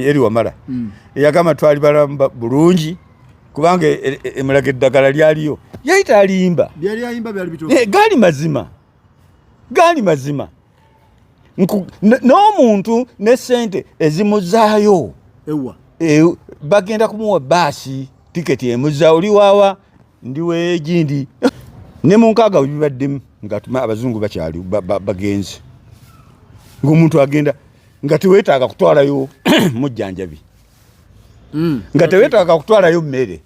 eri wamala mm. eyagamba twali balamba bulungi kubanga e, e, emulaga eddagala lyaliyo yali talimba eh, gaali mazima gaali mazima n'omuntu ne sente ezimuzaayo e, bagenda kumuwa baasi tiketi emuza oli waawa ndiweegindi ne mu nkaaga webibaddemu nga abazungu bakyali bagenzi ngaomuntu agenda nga tewetaaga kutwalayo mujjanjabi mm. nga tewetaaga kutwalayo mmere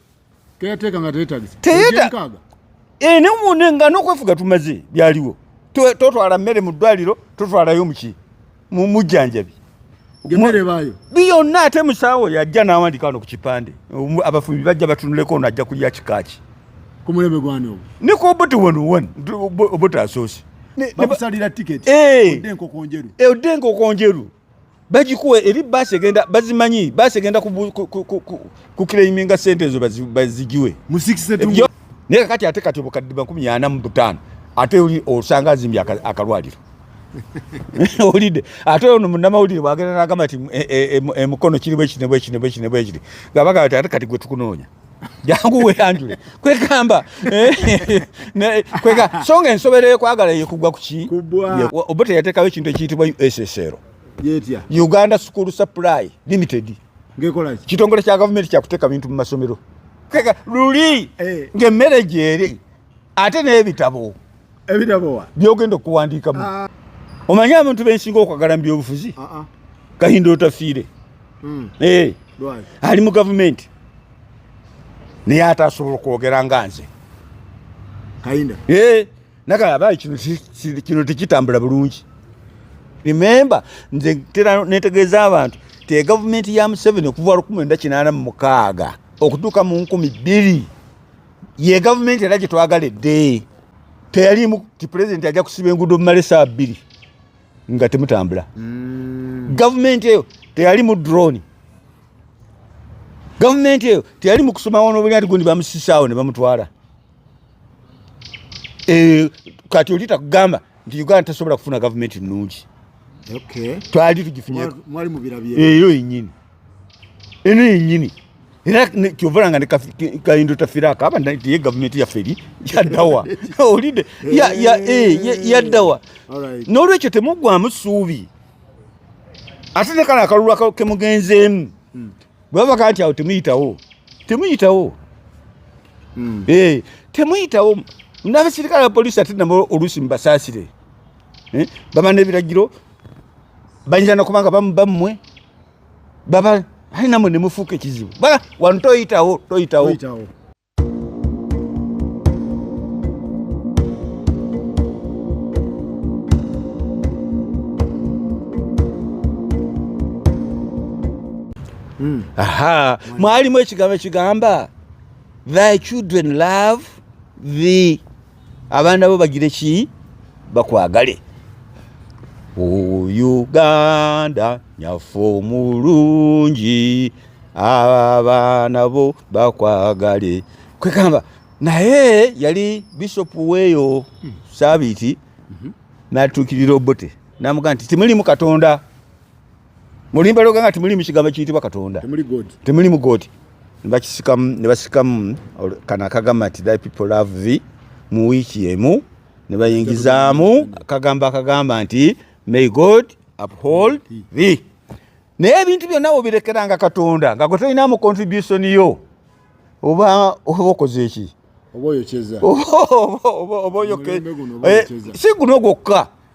eh, nga nokwefuga tumaze byaliwo totwala mmere mu ddwaliro totwalayo muki mujjanjabi byonna ate musaawo yajja n'awandika wano ku kipande abafumbi bajja batunuleko ono ajja kulya kikaaki ku mulembe gwani ogwo niko obuti wano wani obuti asoosi bakusalira tiketi eh. odde enkoko njeru eh, odde enkoko njeru bagikuwa eri baasi egenda bazimanyi baasi egenda kukireiminga sente ezo bazigiwe naye kakati ate kati obukadde makumi ana mu butaano ate oli osanga azimbye akalwaliro olidde ate ono munamawulire bwagenda nagamba ti emukono e, e, e, kiri bwekiri nebwekiri nebwekiri nebwekiri nga bagamba ti ate kati gwe tukunoonya jangu weyanjule kwegamba eh, kwega songa ensobera ekwagala yekugwa kuki oba teyatekawo ekintu ekiyitibwa ussr uganda school supply limited kitongole kya gavumenti kyakuteka bintu mu masomero luli eh. ngaemmere gyeri ate n'ebitabo ebitabo byogenda okuwandiikamu ah. omanyi abantu bensinga okwagala mu byobufuzi ah, ah. kahinda otafiire hmm. eh. ali mu gavumenti naye ate asobola okwogera nga nze eh. naga abayi kino tekitambula bulungi remembe nze tera netegeeza abantu te gavumenti ya museveni okuva lukumi enda kinaana mu mukaaga okutuuka mu nkumi bbiri ye gavumenti era gyetwagala edde teyalimu ti pulezidenti ajja kusiba enguudo mumala esaa bbiri nga temutambula mm. gavumenti eyo teyali mu drone gavumenti eyo teyali mu kusoma wano obunyati gundi bamusisaawo ne bamutwala eh, kati oli takugamba nti uganda tasobola kufuna gavumenti nnungi twali tugifunyeeyo eh, yenyini eno yenyini era kyovala nga kayindo tafirako aba nti ye gavumenti yaffe eri yaddawa olidde yaddawa eh, n'olwekyo temuggwamu ssuubi ate ne kano akalulu kemugenzeemu hmm. bwe baba kati awo temuyitawo temuyitawo hmm. eh, temuyitawo n'abasirikale ba polisi ate nabo oluusi mubasaasire eh, baba n'ebiragiro banyira nakubanga bamu bammwe baba hai namwe nemufuuka ekizibu bala wano toyitawo toyitawo hmm. aha mwalimu ekigambo ekigamba thy children love the abaana bo bagire ki bakwagale uganda nyafo mulungi abaana bo bakwagale kwegamba naye yali bishopu weeyo hmm. sabiiti hmm. natuukirira obote namugaa nti timulimu katonda mulimba loga nga temuli mukigambo kiyitibwa katonda temuli mu god nebakisikamu nebasikamu kano akagamba nti thy people love thee mu wiiki emu nebayingizaamu akagamba akagamba nti may god uphold thee naye ebintu byonna wobirekeranga katonda nga gwe tolinamu contribution yo oba oba okoze eki oba oyokyeza oba oyoke eh, si guno gwokka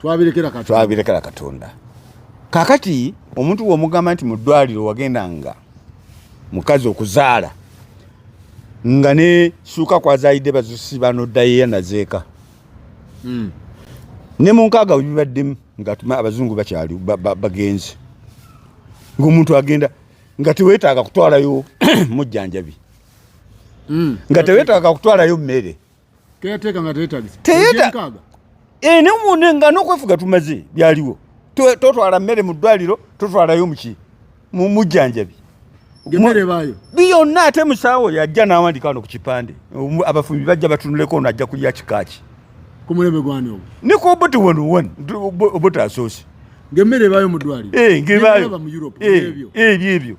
twabirekera katonda twabirekera katonda kakati omuntu womugamba nti mu ddwaliro wagenda nga mukazi okuzaala nga ne suuka kwazaalidde bazusiba noddayo yanazeeka hmm. ne mu nkaaga webibaddemu nga abazungu bakyali bagenzi ngaomuntu agenda nga tewetaaga kutwalayo mujjanjabi hmm. nga tewetaaga kutwalayo mmere Teyateka nga teyetagisa. Teyeta. Eh, ne mune nga nokwefuga tumaze byaliwo. Totwala mmere mu ddwaliro, totwalayo muki. Mu mujjanjabi. Gemere bayo. Biyo na ate musawo yajja n'awandika no ku kipande. Abafubi bajja batunuleko ono ajja kulya kikaaki. Ku mulembe gwani ogwo? Ni ku obuti wano wani, obuti asoosi. Ng'emmere ebaayo mu ddwaliro. Eh, ng'ebaayo. Ng'ebaayo mu Europe. Eh, ebyo ebyo.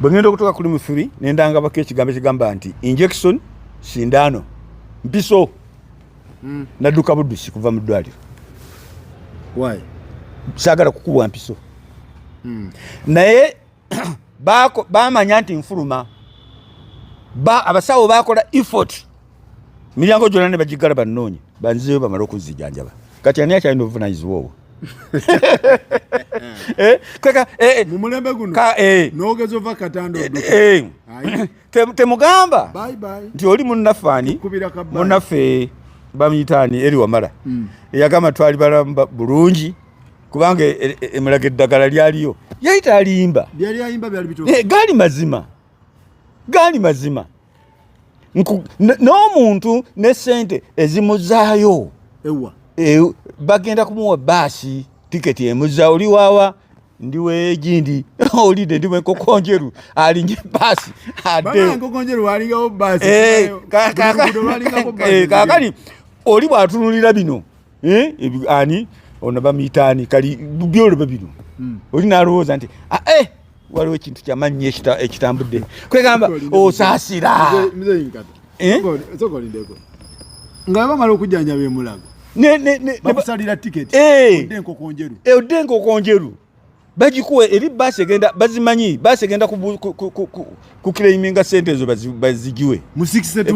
bwe ngenda okutuuka kuli muthuli ne ndangabako ekigambo ekigamba nti injection sindano mpiso mm. nadduka buddusi kuva mu ddwaliro saagala kukubwa mpiso mm. naye bamanya nti nfuluma ba, abasawo bakola effort miryango gyona ne bagigala banoonye banzizeyo bamale okuzijanjaba kati ani akyalina obuvunanyizibwa obwo eh, kweka eh, eh. mumulembe guno nogeza ova katando temugamba nti oli munnaffe ani munnaffe bamuyita ani eri wamala hmm. eyagamba twali balamba bulungi kubanga emulaga eddagala lyaliyo yali talimba gaali mazima gaali mazima n'omuntu ne sente ezimuzaayo e, bagenda kumuwa baasi tiketi emuza oli wawa ndi wegindi olide ndi wenkokonjeru alinye basi adekakali oli bwatunulira bino eh ani ono bamuyita ani kali byolo babiru mm. oli nalowooza nti ah, eh waliwo ekintu kyamanyi ekitambudde kwegamba osasira eh? nga bamala okujjanjaba emulago bakusalira tiketi eh. odde enkoko njeru eh, bagikuwa eri baasi egenda bazimanyi baasi egenda kukireiminga sente ezo bazigiwe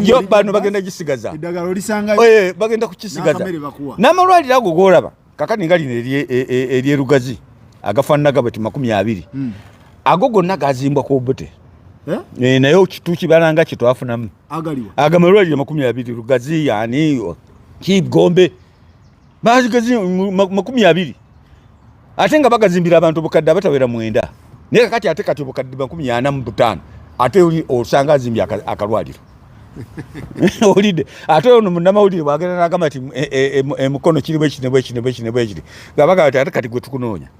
yo bano bagenda gisigaza eh, bagenda kukisigaza n'amalwaliro ago golaba kakati nga lino eryerugazi e, e, e, agafaananaga bati makumi abiri hmm. ago gonna gazimbwa ku obute Eh? Eh, naye tukibalanga kyetwafunamu agamalwaliro makumi abiri lugazi yani kigombe bazigazi makumi abiri ate nga bagazimbira abantu obukadde abatawera mwenda naye kakati ate kati obukadde makumi ana mu butaano ate oli osanga azimbye akalwaliro olidde ate ono munamawulire bwagenda nagamba ti emukono e, e, e, kiri bwekiri nebwekiri nebwekiri nebwekiri nga bagamba ti ate kati gwe tukunoonya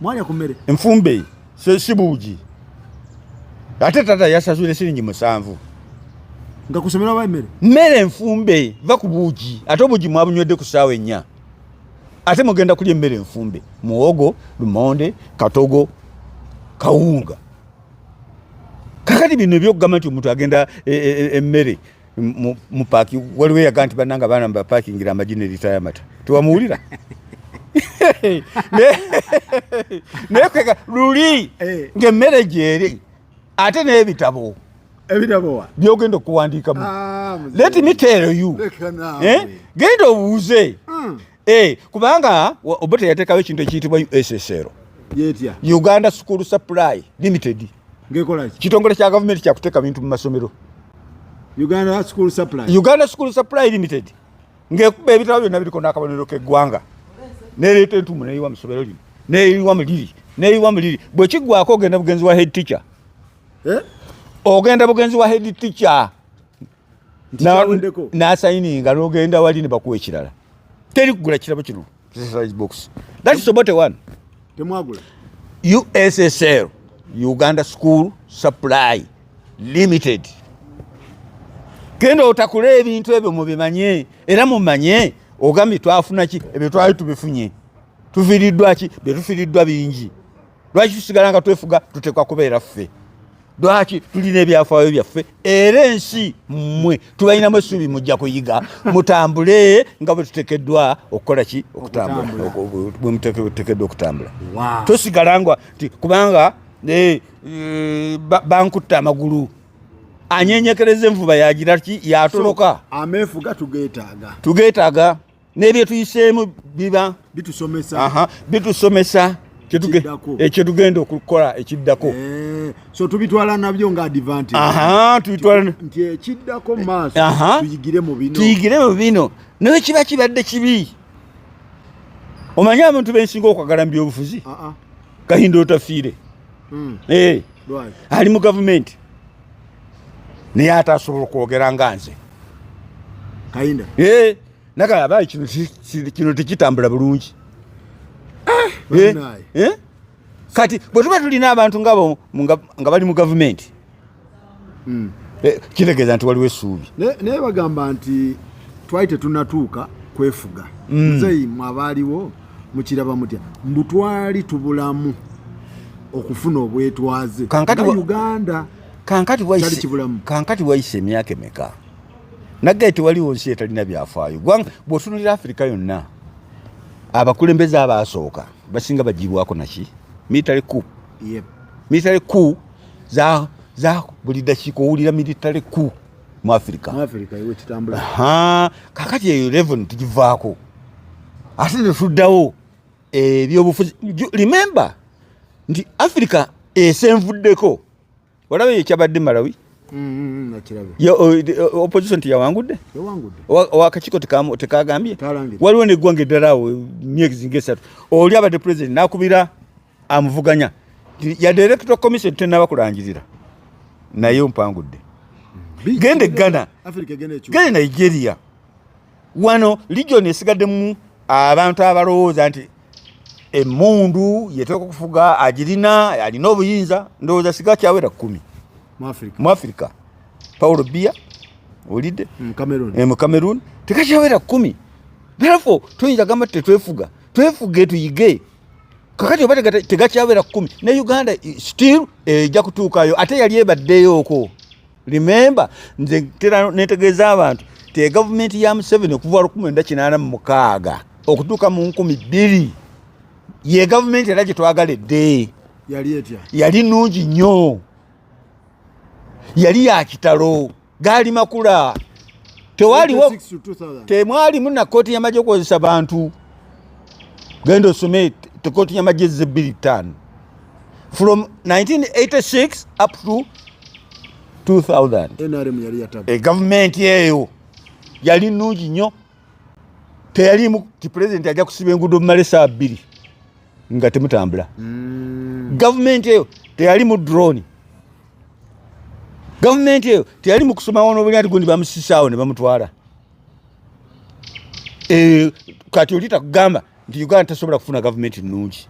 mwalya ku mmere nfumbe sibuugi ate tata yasasule siringi musanvu nga kusomera oba emmere mmere enfumbe va ku buugi ate obuugi mwabunywedde ku saawa ennya ate mugenda kulya emmere enfumbe muwogo lumonde katogo kawunga kakati bino ebyokugamba nti omuntu agenda emmere e, e, e, mu paaki waliwo eyaga nti bannanga abaana mubapaakingira amagi ne lita yamata tewamuwulira naye kwega luli eh. ng'emmere gyeri ate n'ebitabo byogenda okuwandiikamu ah, let me tell you eh? genda obuuze hmm. Eh, kubanga obote yatekawo ekintu ekiyitibwa ussr uganda school supply limited kitongole kya gavumenti kyakuteeka bintu mu masomero uganda school supply, uganda school supply limited ngekuba ebitabo byonna biriko n'akabonero k'eggwanga nereeta entumu neyiwa musomero lino neyiwa muliri neyiwa muliri bwekiggwako ogenda bugenzi wa head teacher eh? ogenda bugenzi wa head teacher nasayininga nogenda wali nebakuwa ekirala teri kugula kirabo kino ussl uganda school supply limited genda otakula ebintu ebyo mubimanye era mumanye ogambye twafunaki ebyo twali tubifunye tufiriddwaki byetufiriddwa bingi lwaki tusigala nga twefuga tuteekwa kubeera ffe lwaki tulina ebyafaayo byaffe era ensi mmwe tubalinamu essuubi mujja kuyiga mutambule nga bwe tutekeddwa okukola ki okutambulabwemutekeddwa okutambula tosigala nga ti kubanga eh, eh, bankutta amagulu anyenyekereza envuba yagira ki yatoloka ameefuga tugeetaaga tugeetaaga nebyetuyiseemu biba bitusomesa bitusomesa ekyetugenda eh, okukola ekiddako eh, so tubitwala nabyo nga advantage aha tubitwala nti ekiddako maaso tuyigire mu bino tuyigire mu bino naye kiba kibadde kibi omanyi abantu bensinga okwagala mu byobufuzi kahinda otafiire hmm. eh, ali mu gavumenti naye ate asobola okwogera nga nze kahinda Naka yabaye kino kino tikitambula bulungi. Ah, eh? Eh? Kati bwe tuba tulina abantu ngabo nga bali mu government. Mm. Eh, kitegeza nti waliwo esuubi. Ne ne bagamba nti twali tetunatuuka kwefuga. Mm. Nzeyi mwabaliwo mukiraba mutya. Mbutwali tubulamu okufuna obwetwaze. Kankati Uganda. Kankati waise. Kankati waise miaka meka. naggaye tewaliwo nsi etalina byafaayo gwanga bwotunulira afirika yonna abakulembeze abaasooka basinga bagibwako naki military ku yep. military ku za, za buli dakiika owulira military ku mu afirika kakati eyo levon tugivaako ate netuddawo ebyobufuzi remember nti afirika esenvuddeko olaba eyo ekyabadde malawi mm, mm, opposition teyawangudde akakiiko tekagambye waliwo neggwanga eddala awo myezi ngaesatu oli abadde president nakubira amuvuganya ya director commission tenaba kulangirira naye mpangudde genda eggana genda nigeria wano region esigaddemu abantu abalowooza nti emundu yeteeka okufuga agirina alina obuyinza ndowooza siga kyawera kumi mu africa paul bia olidde mu mm, cameroon eh, tekakyawera kumi therefore tuyinza gamba tetwefuga twefuge tuyige kakati oba tegakyawera kumi ne uganda still eja eh, kutuukayo ate yali ebaddeyo okwo remember nze tera netegeeza abantu te gavumenti ya museveni okuva lukumi enda kinaana mu mukaaga okutuuka mu nkumi bbiri ye gavumenti era gyetwagala edde yali etya yali nungi nnyo yali ya kitalo gaali makula tewaliwo temwalimu na kooti yamagye okukozesa bantu genda osome kooti yamagye zze bbiri ttaano from 1986 up to 2000 NRM yali yatabu e government yeyo yali nungi nyo teyali mu ti president aja kusiba engudo male saa bili nga temutambula mm. government yeyo teyali mu drone government yeyo teyali mu kusoma wono buli ati gundi bamusisaawo ne bamutwala e kati olita kugamba nti uganda tasobola kufuna gavumenti nnungi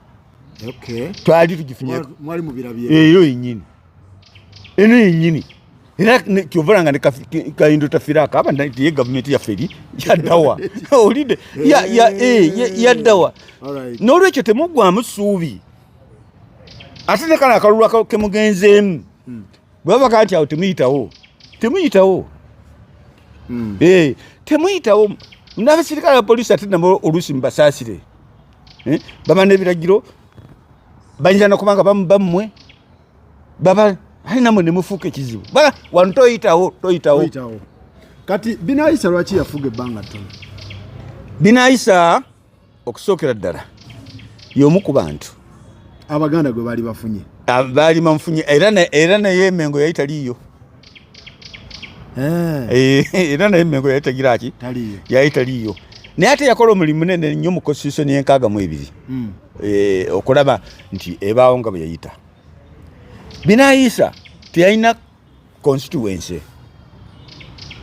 twali tugifunyemwali mubirabye eyo yenyini eno yenyini era kyovala nga nekaindo tafirako aba nti ye gavumenti yaffe eri yaddawa olide yaddawa n'olwekyo temuggwamu ssuubi ate nekano akalulu kemugenzeemu hmm. bwebava kanti awo temuyitawo temuyitawo hmm. eh, temuyitawo nabasirikale bapolisi ate nabo oluusi mubasaasire eh, baba nebiragiro bayinza nakubanga bammwe baba ali namwe nemufuuka ekizibu wano toyitawo toyitawo kati binayisa lwaki yafuga ebbanga ttono binayisa okusookera ddala y'omu ku bantu abaganda gwe baali bafunye ah, baali bamufunye era naye emengo yali taliiyo eh. Eh, era naye emengo yali tagira ki yali taliiyo naye ate yakola omulimu munene nnyo mu constitution yenkaaga mu ebiri hmm. eh, okulaba nti ebaawo nga bwe yayita binayiisa teyalina constituency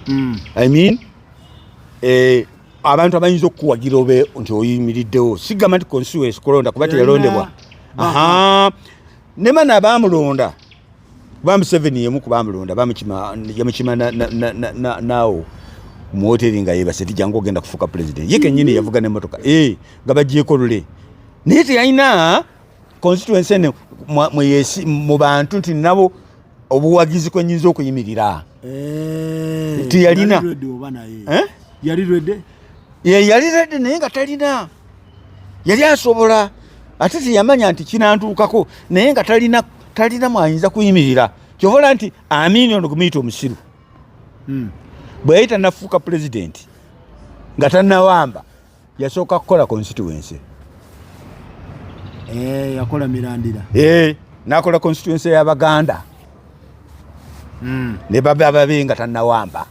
mm. I mean eh, abantu abayinza okukuwagira obe nti oyimiriddewo sigamba nti constituency kulonda kuba teyalondebwa aha nemana abamulonda kuba museveni yemu kubamulonda yamukima naawo muwoteri nga yebase tijangu ogenda kufuuka pulezidenti ye kenyini yavuga nemotoka eh, nga bagyeko lule naye teyalina constituency eno mu bantu nti nabo obuwagizi kwe nyinza okuyimirira eh, teyalina eh? yali rede yali rede naye nga talina yali asobola ate teyamanya nti kinantuukako naye nga talina talina mwayinza kuyimirira kyovola nti amini ono kumuyita omusiru hmm. bwe yali tanafuuka pulezidenti nga tanawamba yasooka kukola constituency eh, yakola mirandira eh, nakola constituency ya baganda mm. ne baba ababi nga tanawamba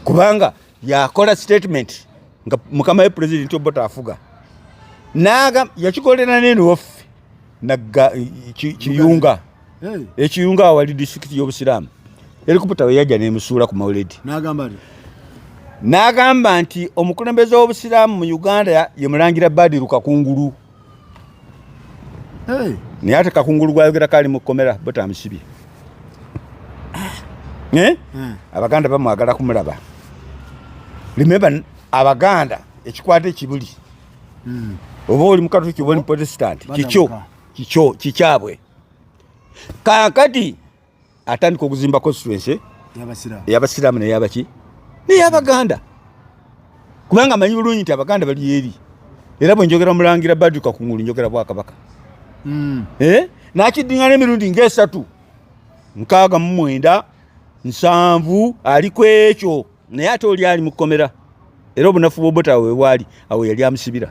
kubanga yakola statement nga mukama we president obota afuga naga yakikolera nene waffe nagga kiyunga ekiyunga awali disitulikiti y'obusiraamu erikuputa we yajja nemusuula ku mauledi n'agamba nti omukulembeze w'obusiraamu mu uganda ye mulangira badiru kakungulu naye ate kakungulu gwayogera kaali mu kkomera botamusibye ah. eh? hmm. abaganda bamwagala kumulaba remember abaganda ekikwata ekibuli mm. oba oli mukatuliki oba oli protestant kikyo kikyo kikyabwe kakati atandika okuzimba constituency eyabasiraamu neyabaki neyabaganda kubanga amanyi bulungi nti abaganda bali eri era bwenjogera mulangira baduka kungulu njogera bwakabaka mm. eh? nakidingana emirundi ngaesatu nkaaga mumwenda nsanvu ali kwekyo naye ate oli ali mu kkomera era obunafu bwobota wewali awo yali amusibira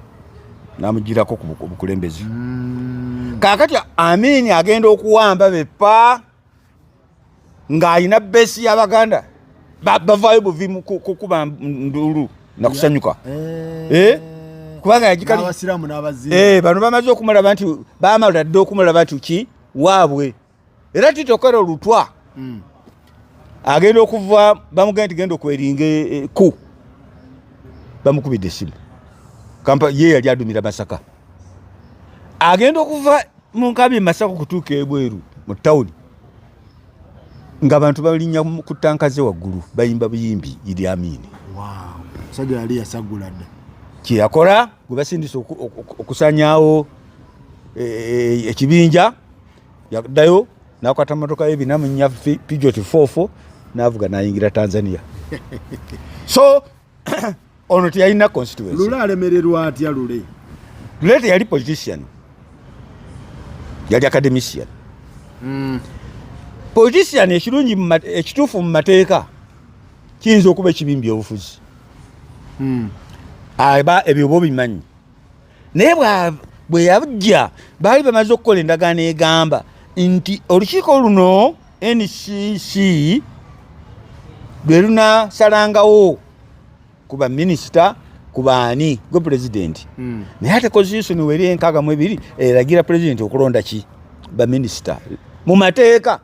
namugirako ku bukulembezi mm. kakati amini agenda okuwamba bepa ng'alina besi y'abaganda bavayo buvi kukuba ndulu nakusanyuka eh. eh? kubanga yagikali eh, bano bamaze okumulaba nti bamala dda okumulaba nti ki waabwe era titokera olutwa mm. agenda okuva bamugenda nti genda okweringa e, e, ku bamukubidde esimu kampa ye yali adumira masaka agenda okuva mu nkabi masaka okutuuka ebweru mu tawuni nga abantu balinya ku tanka ze waggulu bayimba buyimbi idi amini musajja yali yasagula dda kyeyakola gwe basindisa okusanyawo e, e, ekibinja yaddayo nakwata motoka ye bina munya pijot 44 navuga nayingira tanzania so ono teyalina constituency alemererwa atya lule lule teyali politician yali academician mm. politician ekirungi ekituufu mu mateeka kiyinza okuba ekibimbi obufuzi mm. aba ebyo oba obimanyi naye bwe yajja baali bamaze okukola endagaano egamba nti olukiiko luno ncc lwe lunasalangawo ku baminisita ku baani gwe pulezidenti hmm. naye ate konstitutioni weri enkaaga mu ebiri eragira pulezidenti okulonda ki baminisita mu mateeka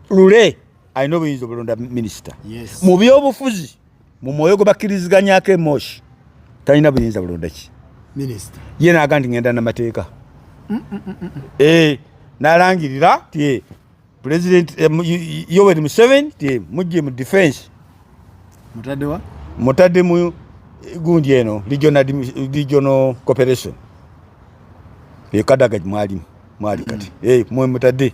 lule alina obuyinza obulonda minisita mu byobufuzi mu mwoyo gwe bakkiriziganyako emoshi talina buyinza bulonda ki ye naaga nti ngenda namateeka mm, mm, mm, eh, nalangirira ti president eh, yoweri museven ti mujje mu defense mutadde mu eh, gundi eno regional cooperation ekadaga mwalimu mwali kati mwe mutadde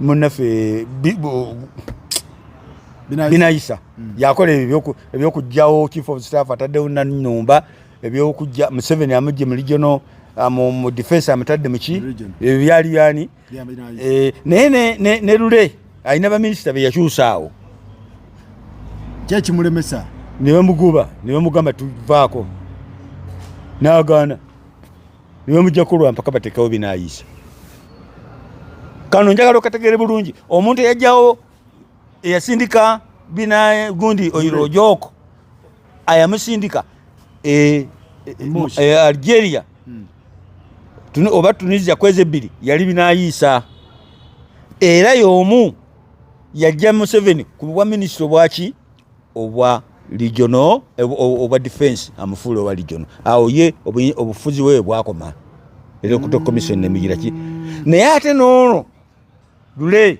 munaffe binayisa mm. yakola ebyokugjawo chief of staff ataddewo nanumba ebyokujja museveni amujje mu regional Ah, mu defense amutadde muki ebyo byali byani eh, naye ne lule alina baminisita beyakyusaawo kyekimulemesa nebamuguba nebamugamba tuvaako nagaana niwe mujja kulwa mpaka batekawo binayisa kano njagala okategere bulungi omuntu eyajjawo eyasindika bina gundi oyiro ojoko ayamusindika e, e, e, algeria hmm. tuni, oba tunisia kwezi ebbiri yali binayisa era yomu yajja museveni ku bwa minisita obwaki obwa regional obwa defense amufuula owa regional awo ye obufuzi bwe bwakoma electoral commission nemigira ki naye ate noono lule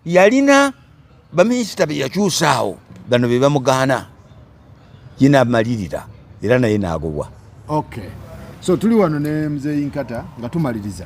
yalina baminisita beyakyusa awo bano bebamugaana ye namalirira era naye nagobwa okay. so tuli wano ne mzeyi nkata nga tumaliriza